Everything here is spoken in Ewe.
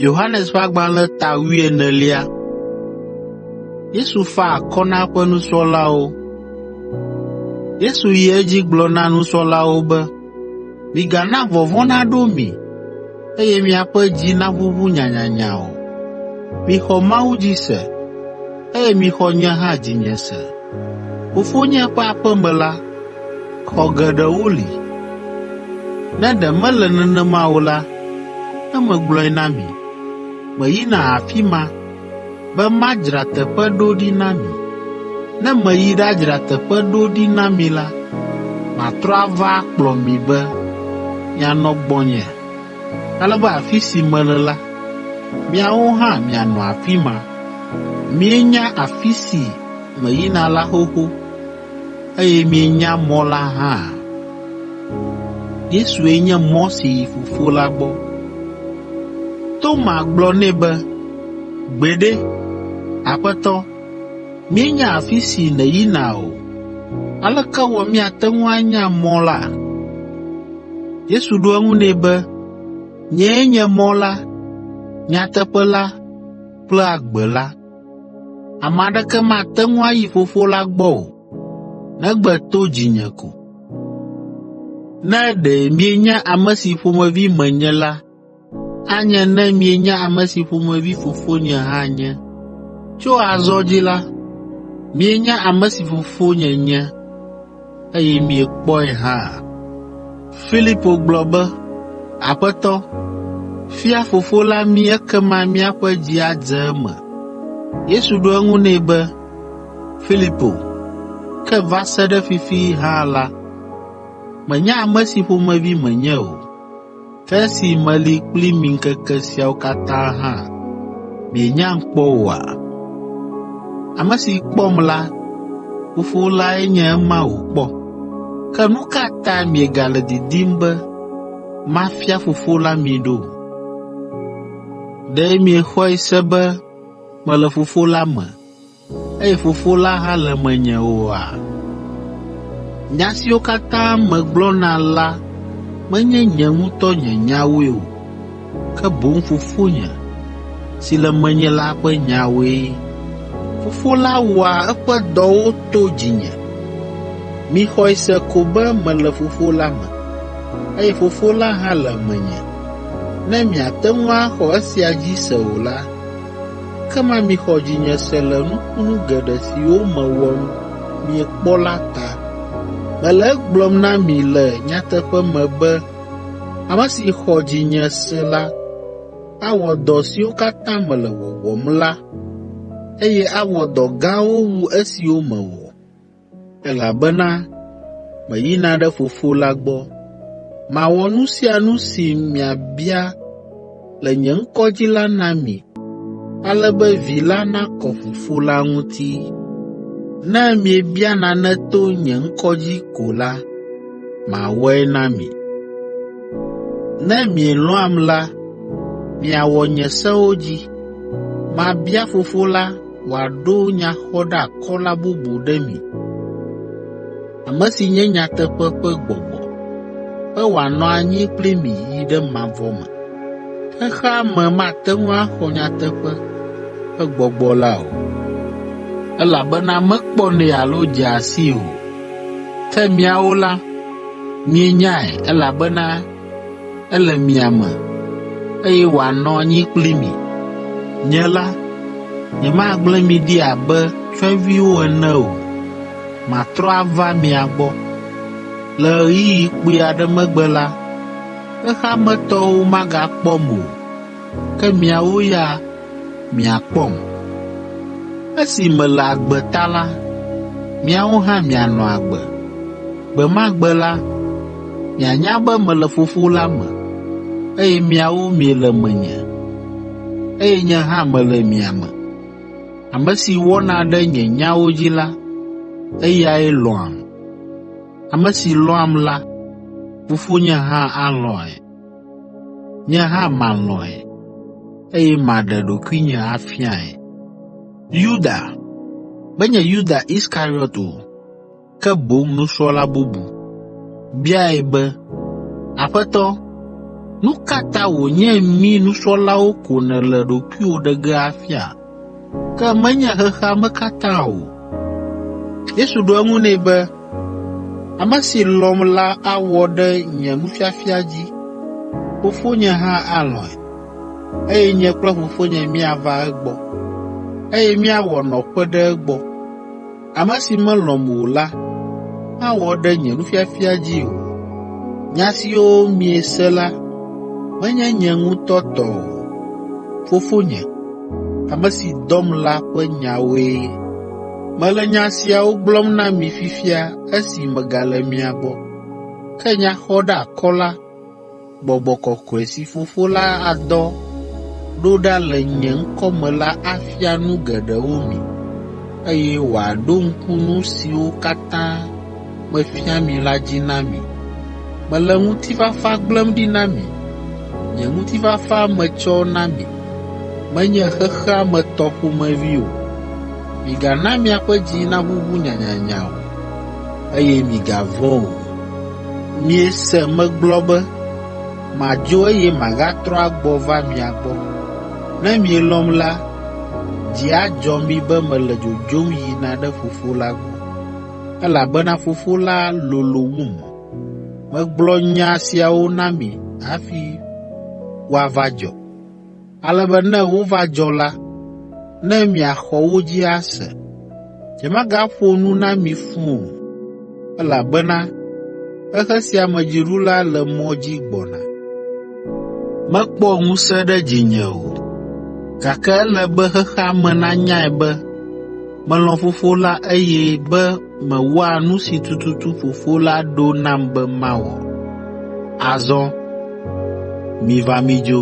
Yohanes ƒe agbalẽ ta wuienelia. Yesu fa akɔ na eƒe nusrɔ̃lawo. Yesu yi edzi gblɔ na nusrɔ̃lawo be, “Migana vɔvɔ̃ naɖo mi eye miaƒe dzi naʋuʋu nyanyanya o. Mixɔ Mawu dzi se, eye mixɔ nye hã dzinye se. Fofonye ƒe aƒe me la, xɔ geɖewo li. Ne ɖe mele nenema o la, ne megblɔe na mi. Meyina afi ma be madzra teƒe ɖo ɖi na mi. Ne meyi ɖadzra teƒe ɖo ɖi na mi la, matrɔ ava akplɔ mi be mianɔ gbɔnye, ale be afi si mele la, miawo hã mianɔ afi ma. Mienya afi si meyina la xoxo. eye mienya mɔ la hã. Yesue nye mɔ si yi Fofo la gbɔ. Toma gblɔ nɛ be, “Gbeɖe, Aƒetɔ, míenya afi si nèyina o, aleke wɔ míate ŋu anya mɔ la?” Yesu ɖo eŋu nɛ be, “Nyee nye mɔ la, nyateƒe la kple agbe la. Ame aɖeke mate ŋu ayi Fofo la gbɔ o, negbe to dzinye ko. Ne ɖe mienya ame si ƒomevi menye la, anye ne mienya ame si ƒomevi Fofonye hã nye. Tso azɔ dzi la, mienya ame si Fofonye nye.” eye miekpɔe hã.” Filipo gblɔ be, “Aƒetɔ, fia Fofo la mí ekema míaƒe dzi adze eme.” Yesu ɖo eŋu nɛ be, “Filipo, ke va se ɖe fifi hã la, mènya ame si ƒomevi menye o. Ke esi meli kpli mi ŋkeke siawo katã hã, mienyam kpɔ oa? Ame si kpɔm la, Fofo lae nye ema wòkpɔ. Ke nu ka ta miegale didim be mafia Fofo la mi ɖo? Ɖe miexɔe se be mele Fofo la me, eye Fofo la hã le menye oa? Nya siwo katã megblɔna la menye nye ŋutɔ nye nyawoe o, ke boŋ Fofonye, si le menye la ƒe nyawoe. Fofo la wɔa eƒe dɔwo to dzinye. Mixɔe se ko be mele Fofo la me, eye Fofo la hã le menye. Ne miate ŋu axɔ esia dzi se o la, Ekema mixɔ dzinye se le nukunu geɖe siwo mewɔ nu miekpɔ la ta. Mele egblɔm na mi le nyateƒe me be ame si xɔ dzinye se la awɔ dɔ siwo katã mele wɔwɔm la, eye awɔ dɔ gãwo wu esiwo mewɔ. Elabena meyina ɖe Fofo la gbɔ. Mawɔ nu sia nu si miabia le nye ŋkɔ dzi la na mi, ale be Vi la nakɔ Fofo la ŋuti. Ne miebia nane to nye ŋkɔ dzi ko la, mawɔe na mi. Ne mielɔ̃am la, miawɔ nye sewo dzi. Mabia Fofo la, wòaɖo nyaxɔɖeakɔla bubu ɖe mi, ame si nye nyateƒe ƒe gbɔgbɔ, be wòanɔ anyi kpli mi yi ɖe mavɔ me. Xexea me mate ŋu axɔ nyateƒe ƒe gbɔgbɔ la o, elabena mekpɔnɛ alo dzea sii o. Ke míawo la, míenyae, elabena ele mia me, eye wòanɔ anyi kpli mi. Nye la, nyemagblẽ mi ɖi abe tsyɔ̃eviwo ene o, matrɔ ava mia gbɔ. Le ɣeyiɣi kpui aɖe megbe la, xexea me tɔwo magakpɔm o, ke miawo ya miakpɔm. Esi mele agbe ta la, miawo hã mianɔ agbe. Gbe ma gbe la, mianya be mele Fofo la me, eye miawo miele menye, eye nye hã mele mia me. Ame si wɔna ɖe nye nyawo dzi la, eyae lɔ̃am. Ame si lɔ̃am la, Fofonye hã alɔ̃e. Nye hã malɔ̃e, eye maɖe ɖokuinye afiae. Yuda, menye Yuda Iskariot o, ke boŋ nusrɔ̃la bubu, biae be, Aƒetɔ, nu ka ta wònye mí nusrɔ̃lawo ko nèle ɖokuiwò ɖe ge afia? Ke menye xexea me katã o.” Yesu ɖo eŋu nɛ be, “Ame si lɔ̃m la awɔ ɖe nye nufiafia dzi, Fofonye hã alɔ̃e, eye nye kple Fofonye míava egbɔ, eye míawɔ nɔƒe ɖe egbɔ. Ame si melɔ̃m o la mawɔ ɖe nye nufiafia dzi o. Nya siwo miese la menye nye ŋutɔ tɔ o. Fofonye, ame si dɔm la ƒe nyawoe. Mele nya siawo gblɔm na mi fifia esi megale mia gbɔ. Ke nya xɔɖeakɔla, Gbɔgbɔ kɔkɔe si Fofo la adɔ ɖo ɖa le nye ŋkɔ me la afia nu geɖewo mi, eye wòaɖo ŋku nu siwo katã mefia mi la dzi na mi. Mele ŋutifafa gblẽm ɖi na mi. Nye ŋutifafa metsɔ na mi, menye xexea me tɔ ƒomevi o. Migana miaƒe dzi naʋuʋu nyanyanya o, eye migavɔ̃ o. Miese megblɔ be, ‘Madzo eye magatrɔ agbɔ va mia gbɔ.’ Ne mielɔ̃m la, dzi adzɔ mi be mele dzodzom yina ɖe Fofo la gbɔ, elabena Fofo la lolo wum. Megblɔ nya siawo na mi hafi woava dzɔ. Ale be ne wova dzɔ la, ne miaxɔ wo dzi ase. Nyemagaƒo nu na mi fũ o, elabena xexe sia me dziɖula le mɔ dzi gbɔna. Mekpɔ ŋusẽ ɖe dzinye o, gake ele be xexea me nanyae be melɔ̃ Fofo la eye be mewɔa nu si tututu Fofo la ɖo nam be mawɔ. Azɔ miva midzo.